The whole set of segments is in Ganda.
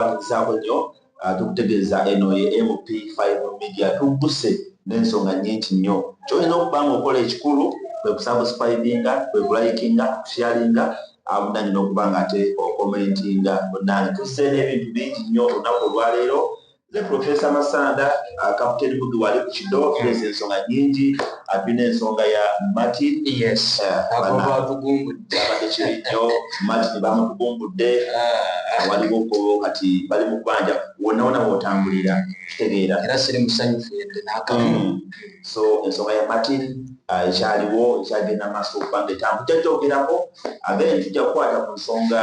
tukubagizaako nnyo ah, tukutegeeza eno ye mp 5 media tugguse n'ensonga nyingi nnyo kyolina okuba nga okola ekikulu kwe kusabusipayibinga kwe kulayikinga kusyalinga abunanyi n'okuba nga ate okomentinga munange tuzze n'ebintu bingi nnyo olunaku olwaleero ne profesa masanda ah, kaputeni bugi wali ku kido tuleesa ensonga nyingi Abina ensonga ya Martin yes agoba tugumbudde abadde kiri nnyo Martin bamutugumbudde ah. waliwo ko kati bali mu kubanja wonna wona wotambulira kitegeera era siri musanyufu yadde n'akamu hmm. so ensonga ya Martin ah, ekyaliwo ekyagenda maaso okubanga etambu jajja ogerako ate tujja kukwata ku nsonga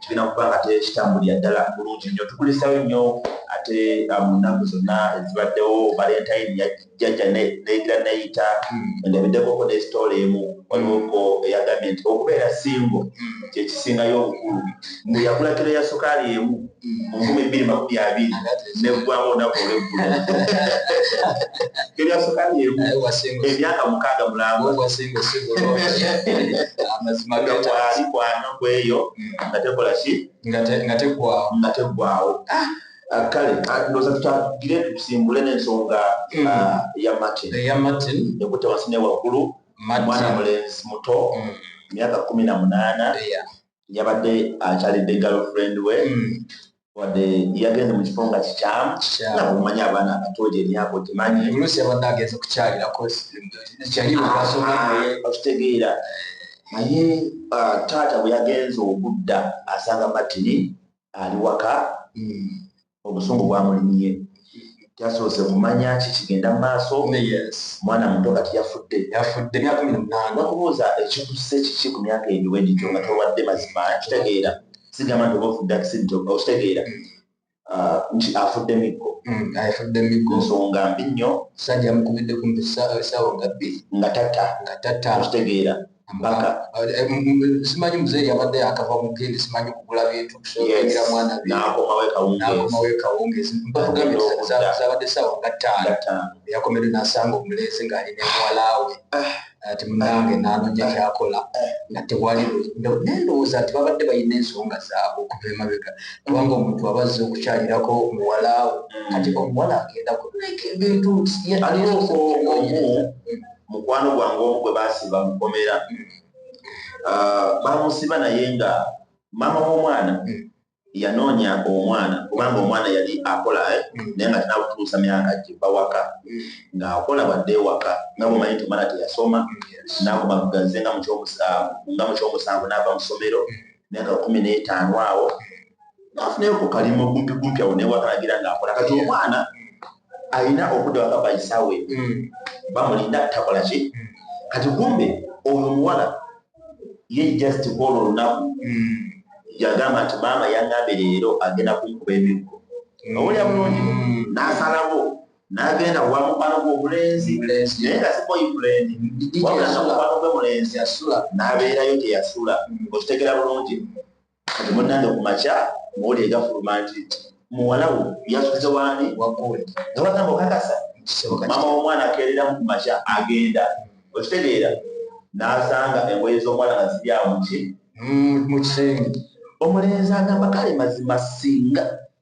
kigenda kuba nga tekitambulira ddala bulungi nnyo tukulisayo nnyo ate mu um, nnaku zonna ezibaddewo valentine yajja negira neyita hmm. endabiddekoko nesitoola emu waliwoko eyagambye nti okubeera singo hmm. kyekisingayo obukulu mbu yagula kiro ya sukaali emu hmm. mu nkumi ebbiri makumi abiri neggwamu olunaku olweggulu kiro ya sukaali emu emyaka mukaaga mulambo amazima gakwali kwana kweyo nga tekola ki nga teggwawo nga teggwawo ah, ah, kale ah, ndoza tutagire tusimbule n'ensonga mm. ya martin ya martin ekutte wansi ne waggulu mwana mulenzi muto mm. myaka kumi na munaana yabadde akyalidde girlfriend we mm. wadde yagenze mu kifo nga kikyamu nga bwemanya abaana abato gye myako gimanyi oluusi abadde agenze kukyalira kyalikitegeera naye ah, taata bwe yagenze okudda asanga matini ali waka hmm. obusungu bwamulimye kyasoose kumanya ki kigenda maaso mwana muto kati yafudde yafudde myaka kumi nomunaana nokubuuza ekikusse kiki ku myaka ebyo bwegityo nga towadde mazima kitegeera sigamba nti oba ofudde akisidenti okitegeera ah, nti afudde miggo mm, afudde miggo nsonga mbi nnyo sajja mukubidde kumpi saawa nga bbiri nga tata nga tata okitegeera mbaga simanyi muzeeyi yabadde akava mu gendi simanyi kugula bintu kusoingira mwana nakomawo ekawungezi mbakugambye zabadde saawa nga ttaano eyakomedde nasanga omulenzi ng'ali ne muwalawe ah. ati munange nanonya kyakola eh. nga tewali nendowooza nti babadde balina ensonga zaabwe okuva emabega kubanga omuntu abazza okukyalirako muwalawe hmm. kati omuwala agenda kuleka ebintu mukwano gwange omu gwe basiba mukomera ah, bamusiba naye nga maama w'omwana yanoonya omwana kubanga omwana yali akola eh, naye nga tinabutuusa myaka gibawaka ng'akola wadde ewaka nga bwemanyi nti omwana teyasoma nakubakugaze nga mukyomusanvu naava mu somero myaka kumi n'etaano awo nafunayo ku kalimu kumpi kumpi awo newakalagira ngaakola kati omwana alina okudda waka baisaawe hmm. bamulinda takola ki hmm. kati kumbe oyo omuwala ye just kwolwo olunaku hmm. yagamba nti maama yangambe leero agenda kunkuba emiggo owulira bulungi nasalawo nagenda wa mukwano gwomulenzi naye nga si boyfriend wabula nga mukwano gwe mulenzi asula nabeerayo gyeyasula okitegera bulungi kati munange ku makya muwuli egafuluma nti muwalawo yasuze wani wakowe nga bagamba okakasa mama womwana akereramu ku makya agenda okitegeera nasanga engoye zomwana nga ziri awo ki mm, mu kisenge omulenzi agamba kale mazima singa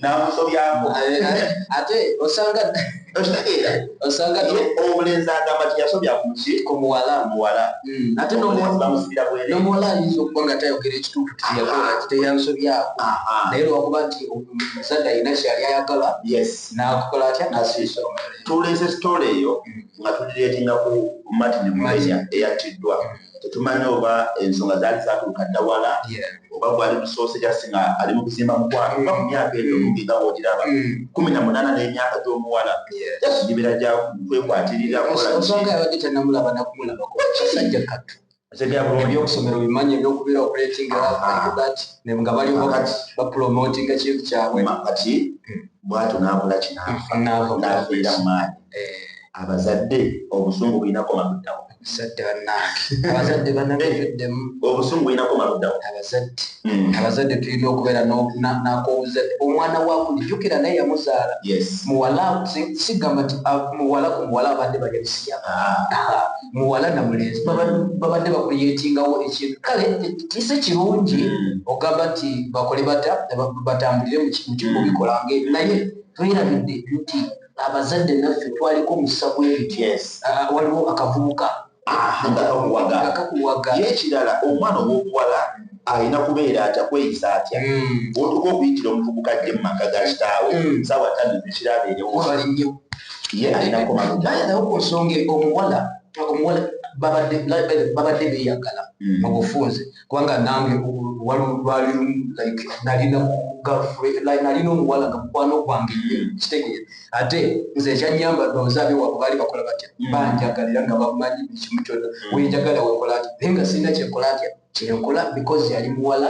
namusobyako ate osanga okitegeera osanga omulenzi agamba ti yasobya kuki ku muwala muwala hmm. ate bamusibira bwere nomuwala ayinza okuba nga tayogera ekituufu tiyakola kiteyansobyako naye lwakuba nti omusajja alina kyeyali ayagala nakukola atya nasiisa tuleese sitole eyo hmm. nga tudireetinga ku martin mulenya eyattiddwa tetumanyi oba ensonga zaali zatuuka dda wala oba gwali musoose jasi nga ali mu kuzimba mukwano kuba mu myaka ebyo mm. omubi nga bwogiraba mm. kumi na munana n'emyaka gy'omuwala jasi gibera gya kwekwatirira ensonga yabadde tanamulaba nakumulaba kuba kisajja kattu ebyokusomero bimanyi ebyokubeera operatingabat nga baliobapromotinga kintu kyabwe kati hmm. bwatyo nakola kinaafa nabeera maanyi eh. abazadde obusungu bulinako makudawo abazadde banange abazadde banabeeddemu obusungu bulinako maluddawo abazadde mm. abazadde tulina okubeera nakobuzadde omwana wakundi jukira naye yamuzaala muwala sigamba nti ah, muwala ku muwala abadde bali ebisiya ah. ah, muwala na mulenzi babadde bakuyetingawo ekintu kale si kirungi mm. ogamba nti bakole batambulire mu kimu kikubikolanga naye twirabidde nti abazadde naffe twaliko omukisa gwebiti waliwo akavubuka akakuwaga ye ekirala omwana owokuwala alina kubeera atya kweyisa atya hmm. otuka okuyitira omuvubuka jje mu maka ga kitaawe hmm. saawa tano nekirabeerewoali nnyo ye alina kumaayinawo ku nsonga omuwala omuwala babadde beyagala hmm. mu bufunze kubanga nange waliwo lwali lumu like nalina nalina omuwala nga mukwano gwange kitegeera ate nze ekyanyamba ndowooza abe wabo baali bakola batya mm. banjagalira nga bamanyi buli kimu kyonna mm. wenjagala wekola atya naye nga sirina kyekola atya kyenkola because yali muwala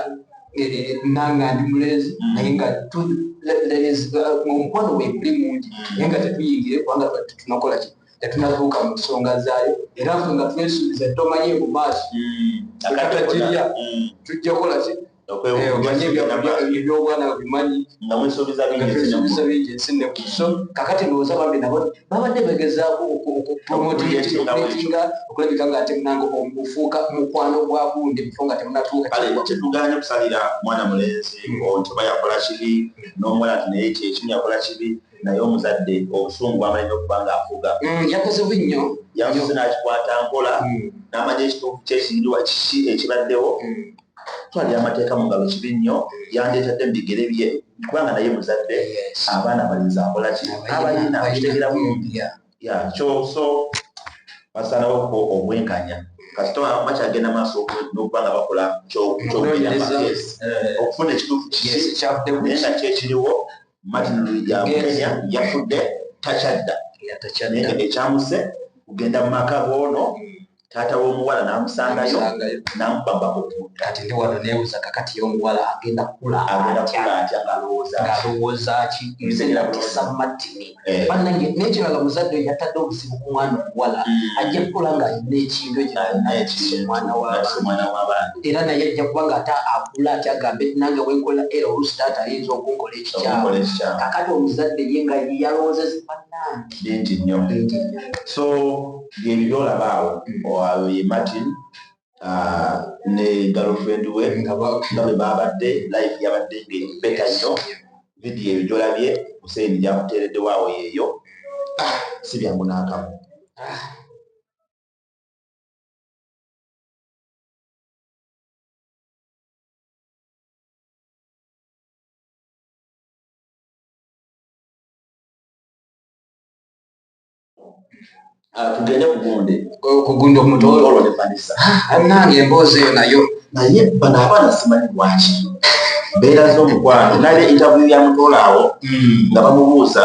e, e, e, nanga ndi mulenzi mm. naye nga omukwano weguli mungi naye nga tetuyingire kubanga tunakola ki nga tunatuuka mu nsonga zaayo era fe nga twesuubiza tomaye mu maaso akatakirya tujja kola ki ebyobwana bimanyi nga mwesuubiza bingi ensi nekuso kakati ndowooza bambi nabo babadde begezaako okupromotinga okulabika nga temunanga okufuuka mukwano gwa gundi mufo nga temunatuuka tetuganye kusalira mwana mulenzi nti oba yakola kibi n'omuwala ti naye kyekimu yakola kibi naye omuzadde obusungu bwamanyi nokuba nga afuga mm, yakoze bubi nnyo yakoze nakikwata nkola mm. namanya ekituufu kyekiriwa kiki ekibaddewo mm. twali amateeka mu ngalo kibi nnyo yandeetadde mu bigere bye kubanga naye muzadde abaana balinza akola ki abalina kitegera bulungi yakyo so basalawo ko obwenkanya kasita bakyagenda maaso nokuba nga bakola kyokunoonyereza eh. okufuna ekituufu kiki naye nga kyekiriwo martin luija mukenya yafudde takyadda ekyamuse kugenda mu maka goono hmm. taata w'omuwala n'amusangayo n'amubamba kati ndi wano neebuza kakati y'omuwala agenda kukula agenda kukula atya ng'alowooza ki nzera nti sammatini eh. bannange naye kirala muzadde yatadde obuzibu ku mwana omuwala hmm. ajja kukula ng'alina ekintu ekyo omwana w'abaana era naye ajja kuba nga ate akula ati agambe nange wenkola era oluusi taata ayinza okunkola ekikyamu kakati omuzadde ye nga yalowoozeza banange bingi nnyo so ebyo byolaba awo oyo ye martin ah, ne galfriend we nga bwe babadde life yabadde ngebeta nnyo vidiyo ebyo gyolabye museveni gyakuteereddewo awo yeeyo ah, si byangu n'akamu ah. Ah, tugende kugunde kugunde omutoola olwo nefanisa ah, nange emboozi eyo nayo naye bano abaana simanyi lwaki mbeera z'omukwano nalya interview ya mutoola awo hmm. nga bamubuuza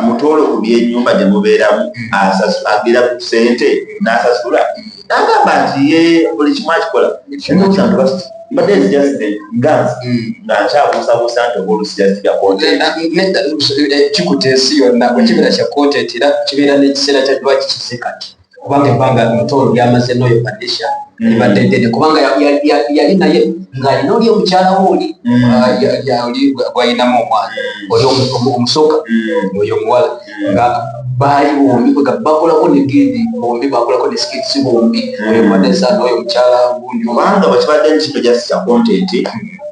mutoole ku byenyumba gye mubeeramu agira ku sente n'asasula n'agamba nti ye buli kimu akikola emuuza nti basi mbadde nzijasite gans mm. nga nkyabuusabuusa nti oba olusijasiga kontenti kikuta ensi yonna bwekibeera kya kontenti era kibeera n'ekiseera kya lwaki kize kati kubanga ebbanga mutolo lyamaze noyo kadisha mm. libadde ddene kubanga yali naye ng'alina oli omukyala we oli mm. ah, gwalinamu omwana mm. oli omusooka oyo omuwala nga baali bombi kwega bakolako negedi bombi bakolako nesikitisi bombi oyo mwaneza noyo omukyala gundi kubanga bwekibadde nti kyo jasi kya kontenti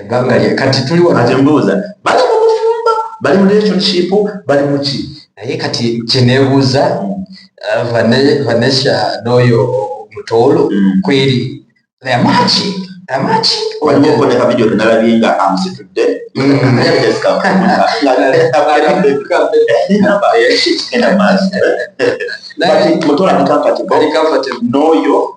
ebbanga lye kati tuli wakati mbuuza bali mu bufumbo bali mu relationship bali mu ki naye kati kyeneebuuza eh, vanesha n'oyo mutoolo mm. kweri amaaki amaaki waliwo okoneka vidio tenalabye nga amusitudde mutola ni comfortable n'oyo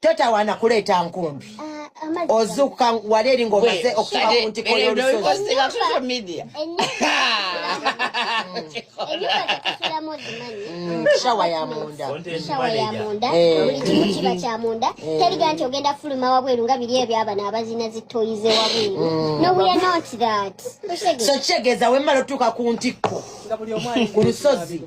totawaana kuleeta nkumbi uh, ozuukuka wali eringa omaze okutuka ku ntiko y'olusozi shawa ya munda shawa ya munda eh. buli kimu kiba kya munda eh. teliga nti ogenda fuluma wabweru nga biri ebyo abana abazina zitoyize wabweru mm. no we are not that so kitegeeza wemmala otuuka ku ntikko ku lusozi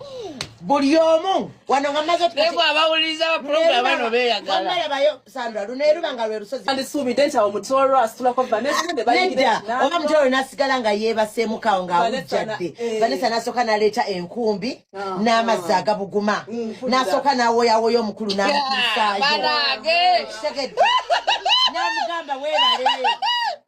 buli omu wano nga maze ego abawuliriza abaprogramu bano beyagalaamalabayo sandra luno eruba nga lwe lusoziandisuubidde nti awo mutoro asitulako vanedda oba mutoro nasigala nga yeebaseemukawo nga awujjadde eh. vanessa nasooka naleeta enkumbi ah. n'amazzi agabuguma mm, nasooka nawoyawoya omukulu namukusayo kitegedde namugamba weerale